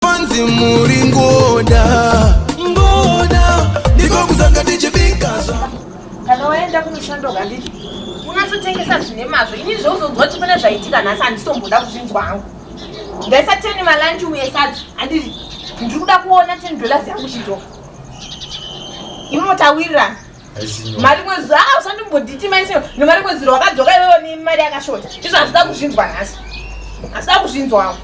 panzi muri ngoda ngoda ndiko kuzanga tichibika kana waenda kumushando kanditi unatotengesa zvine mazvo ini zvauzonzwa kuti pane zvaitika nhasi handitomboda kuzvinzwa hangu ndaisa teni malanchi uye sadzi handiti ndiri kuda kuona ten dollars yangu chidzoka imotawirirana mari mwedzi a usandimboditi maise nemari mwedzi rwakadzoka iwewo ni mari yakashota izvo hazvida kuzvinzwa nhasi hazvida kuzvinzwawo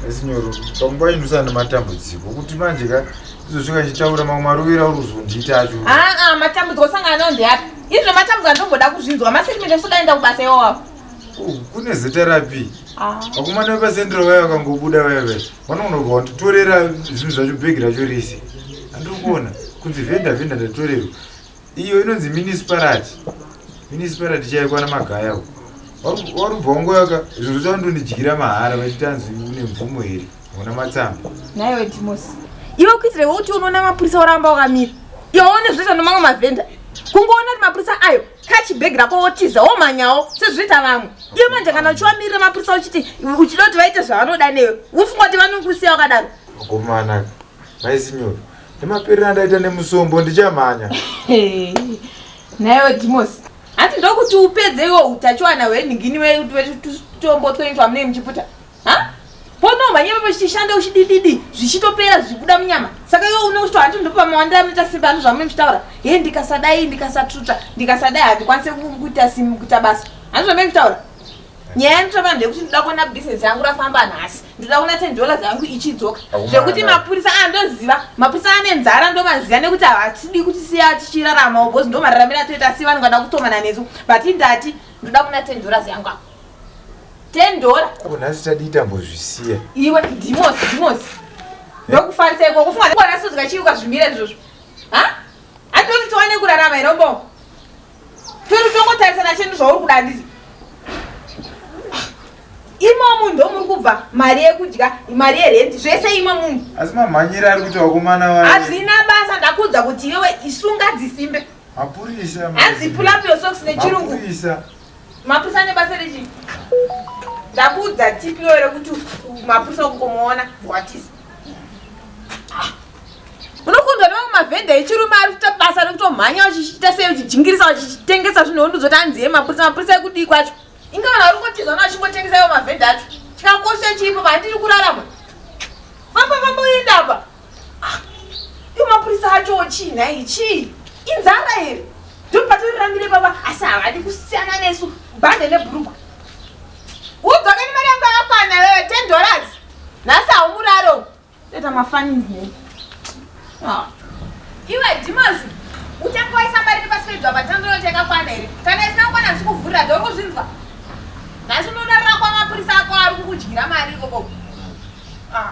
esinyoro panguva ino usana nematambudziko kuti manje ka izosvika chitaura mamwe marovera uri kuzondiita acho aa matambudziko osangana nawo ndeapi izvo matambudziko andomboda kuzvinzwa masekimende sodaenda kubasa iwawapo kune zita rapi vakomana vepasendero vaya vakangobuda vaya vese vanonoka wanditorera zvinhu zvacho bhegi racho rese andikuona kunzi vhenda vhenda ndatorerwa iyo inonzi minisparati minisparati chaikwana magaya u warubva wangoyaka zvinhu zvacho ndondidyira mahara vachiti anzi une mvumo here hauna matsamba naiwe timos iwe kuitira iwe kuti unoona mapurisa oramba wakamira iwe one zvinoita nomamwe mavhenda kungoona kuti mapurisa ayo kachibhegi rako wotiza womanyawo sezvinoita vamwe iwe manje kana uchiwamirira mapurisa uchiti uchida kuti vaite zvavanoda newe wofunga kuti vanokusiya wakadaro mukomana maisinyoro nemaperera ndaita nemusombo ndichamhanya naiwe dimos hanti ndokuti upedze iwo utachiwana hwenhingini wetutombo twenyu twamunei muchiputa Ponomhanya ipapo chichishanda uchidididi zvichitopera zvichibuda munyama saka iwe une uchito handi ndopa mawandira anoita simba ano zvamune muchitaura he ndikasadai ndikasatuta ndikasadai handikwanise kuita simu kuita basa handi zvamune muchitaura nyaya yanditova ndeyekuti ndoda kuona bhizinesi yangu rafamba nhasi ndoda kuona ten dollars yangu ichidzoka zvekuti mapurisa andoziva ah, mapurisa ane nzara ndomaziva nekuti havatidi kuti siya tichiraramawo bhozi ndomararamira toita si vanongada kutomana nesu but indati ndoda kuona ten dollars yangu ako 10 dollar ko nhasi tadii tambozvisiya iwe dimos dimos ndokufarisa iko kufunga kuti kona sozika chii ukazvimira izvozvo ha atoti tiwane kurarama here umboo toti tongotarisana chendu zvauri kuda handizi imwe munhu ndomuri kubva mari yekudya mari yerenti zvese imwe munhu asi mamhanyire ari kuti vakomana vaye hazvina basa ndakuudza kuti iwewe isunga dzisimbe mapurisa hanzi pull up your socks nechirungu mapurisa Mapurisa ane basa rechii? Ndakuudza tipi iwe rekuti mapurisa ukungomuona bhuwatisa. Unokundwa newe mavhenda echirume ari kuita basa rekutomhanya vachichita sei vachijingirisa vachitengesa zvinhu wonduzoti anzi ye mapurisa mapurisa ekudii kwacho? Inga vanhu vari kungotiza vana vachingotengesa iwo mavhenda acho. Chikakosha chiripo vandiri kurarama. Famba famba uenda apa. Ah, iwo mapurisa achowo chii nhai chii inzara here ndopatoriramire baba asi havadi kusiyana nesu bhande nebhurugwa udzoke nemari yangu yakakwana wewe ten dollars nhasi haumuraro toita mafanizne ah. iwe dimazi uchange waisa mari nepasi pedwa patandoyoti yakakwana here kana isina kukwana ndisi kuvhurira dho kuzvinzwa nhasi unorarira kwamapurisa ako ari kukudyira mari ikokoko ah.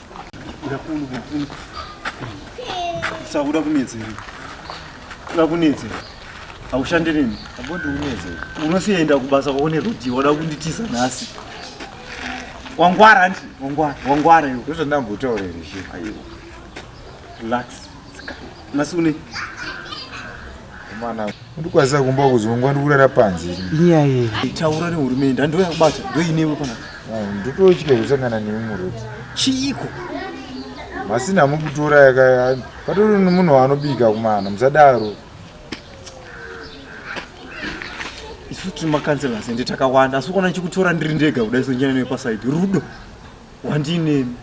Sakuda kunetse here? Kuda kunetse here? Haushande neni? Abodi unetse. Unosienda kubasa kwaone rudhi wada kunditiza nhasi. Wangwara nti? Wangwara, wangwara iwe. Ndozvandambotaura here? Aiwa. Relax. Masune. Mwana ndikwaza kumba kuzongwa ndikurara panze. Inyaya iyi. Taura nehurumende handiwe yakubata ndoinewe pana. Ndototya kusangana nemi muruti. Chiiko? Masina mukutora yaka patori nomunhu waanobika kumana musadaro. Isu tiri makanzela sende takawanda asi ukaona chikutora ndiri ndega kudai sonjana newe pasaidi rudo wandinemi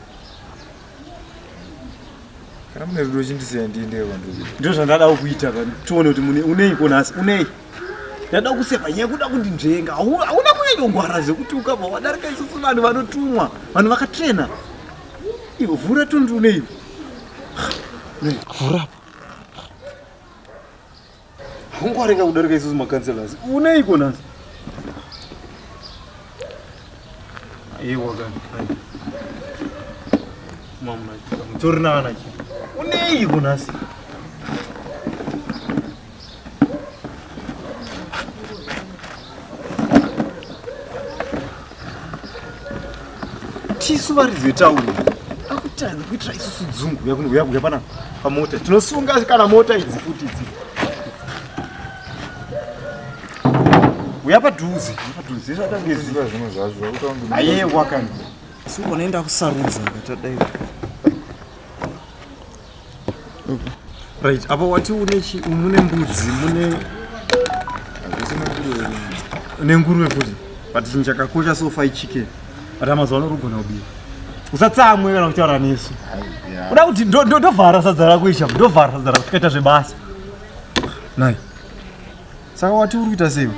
kana mune rudo chindisiya ndiendeyo kwandiri kuita ndizvo zvandadawo kuita pano tione kuti mune unei ko nhasi unei ndada kuseva nyaya kuda kundinzvenga Hau- hauna kunyanyongwara zvekuti ukabva wadarika isusu vanhu vanotumwa vanhu vakatrena ivo vhura tondi unei vhura Ungwareka kudarika isusu makanselasi. Uneiko nhasi? Ewa kani. Mama, mutori nana chi. Uneiko nhasi? tisu varidzi vetauni akutanga kuitira isusu dzungu yakuuya kuuya pana pamota tinosunga kana mota idzi futi idzi uya padhuze padhuze zvatangeziva zvimwe zvazvo ayewa kani suonaenda kusarudza ngatadai right apa wati mune mbudzi mune nenguruve futi but chinhu chakakosha so fai chicken but amazuva ano rugona kubira usatsamwe kana kutaura nesu uda kuti ndovhara sadza rako isha ndovhara sadza rako tikaita zvebasa nai saka wati uri kuita sei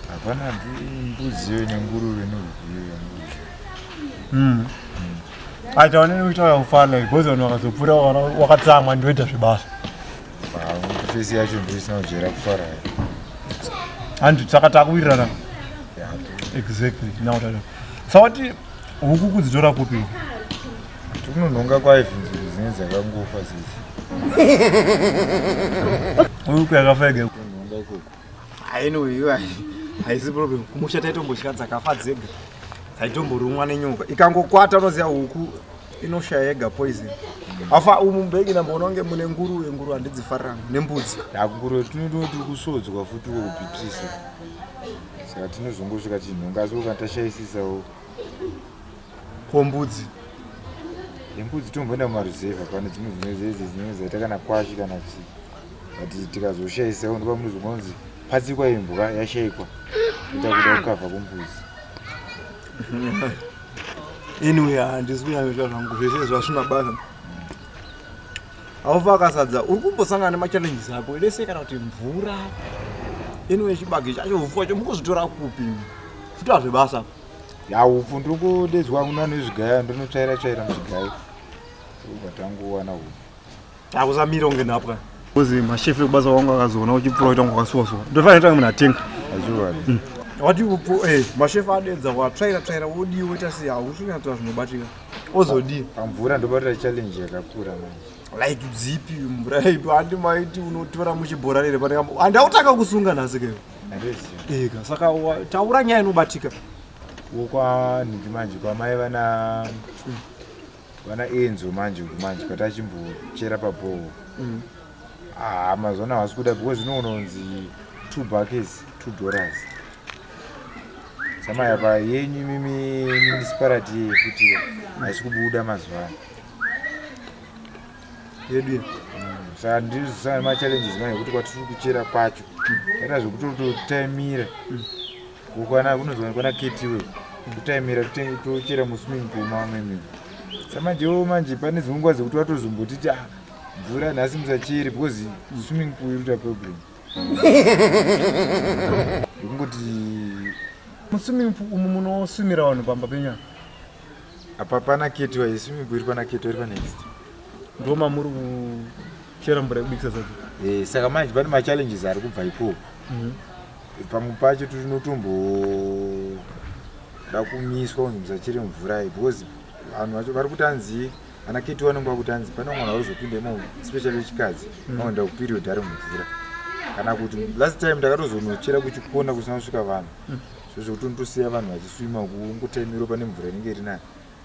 hapana mbudziyo nenguruve noviyo yangu hmm. hmm. Aita wani ni kuita ufala because wani wakazopura wakatsamwa ndoita zvibasa. Face yacho ndisina kujera kufara. Handu saka takuwirirana. Exactly. Now tata. Sawati huku kudzitora kupi? Tunononga kwa ife zvinhu dzakangofa sisi. Huku yakafa yega. Tunononga kuku. Anyway, haisi problem. Kumusha taitombotya dzakafa dzega. Dzaitomborumwa nenyoka. Ikangokwata unoziva huku inoshaya yega poison. Afa umu mbeki namboona kunge mune nguruve, nguruve handidzifarira nembudzi. Nguruve tinoda kuti kusodzwa futi wokupipsisa. Saka tinozongosvika chinhu ngazi ukatashayisisawo. Ko mbudzi? Yembudzi tomboenda mumaruzevha pane dzimwe dzimwe dzedzi dzinenge dzaita kana kwashi kana chii. but tikazoshaisa undipa muzi unonzi patsikwa imbwa yashaikwa ita kuda kukavha kumbuzi anyway handisi kunyanyota zvangu zvese zvasvina basa haufa akasadza uri kumbosangana nemachallenges ako lese kana kuti mvura anyway chibage chacho ufu wacho mukuzvitora kupi futi hazvebasa ya ufu ndiri kudedzwa kuna nezvigaya ndinotsvaira tsvaira muzvigaya ubatangu wana ufu Akuzamira unge nhapwa. Kuzi mashefe kubasa wangu akazoona uchipfuura kuita kunge wakasuwa suwa. Ndofanira kuita munhu atenga. Azviwani. Mm. What do you put eh mashefe adedza wa try try ra wodi woita si ha usina twa zvinobatika. Ozodi. Amvura ndobata challenge yakakura manje. Like zipi mvura ipi handi maiti unotora muchibhora rere pane kambo. Handi autaka kusunga nhasi keyo. Ndezio. Ega saka taura nyaya inobatika. Wokwa nhingi manje kwamai vana mm. Vana Enzo manje uku manje but achimbochera pabhoho. Mm. Ah, mazona havasi kuda because no unonzi two buckets, two dollars. Sama yapa yenyu mimi municipality yeye futi haisi kubuda mazuva ano. Yedu. Mm. Saka ndiri sana ma challenges manje kuti kwatiri kuchera kwacho. Kana zvekutototaimira. Mm. kukwana kunozowanikwa naketi iwewe kutaimira tochera muswimming pool mamwe mimi samajewo manje pane dzimwe nguva dzekuti watozombotiti ah, mvura nhasi musachere because swimming pool iruta problem ndokungoti muswimming pool umu munoswimira vanhu pamba penya apa pana keti waye swimming pool iri pana keti wairi panext ndoma muri kuchera mvura yekubikisa sadza eh, saka manje pane machallenges ari kubva ikoko mhm. pamwe pacho tinotomboda kumiswa kunzi musachere mvura iyi because vanhu vacho vari kuti anzi ana keti vanenge vakuti anzi pane mwana varizopinda imomo especially vechikadzi mm. vanoenda kuperiod ari mumvura kana kuti last time ndakatozonochera kuchikona kusina kusvika vanhu mm. so zvekuti unotosiya vanhu vachiswima kungotaimiro pane mvura inenge iri nayo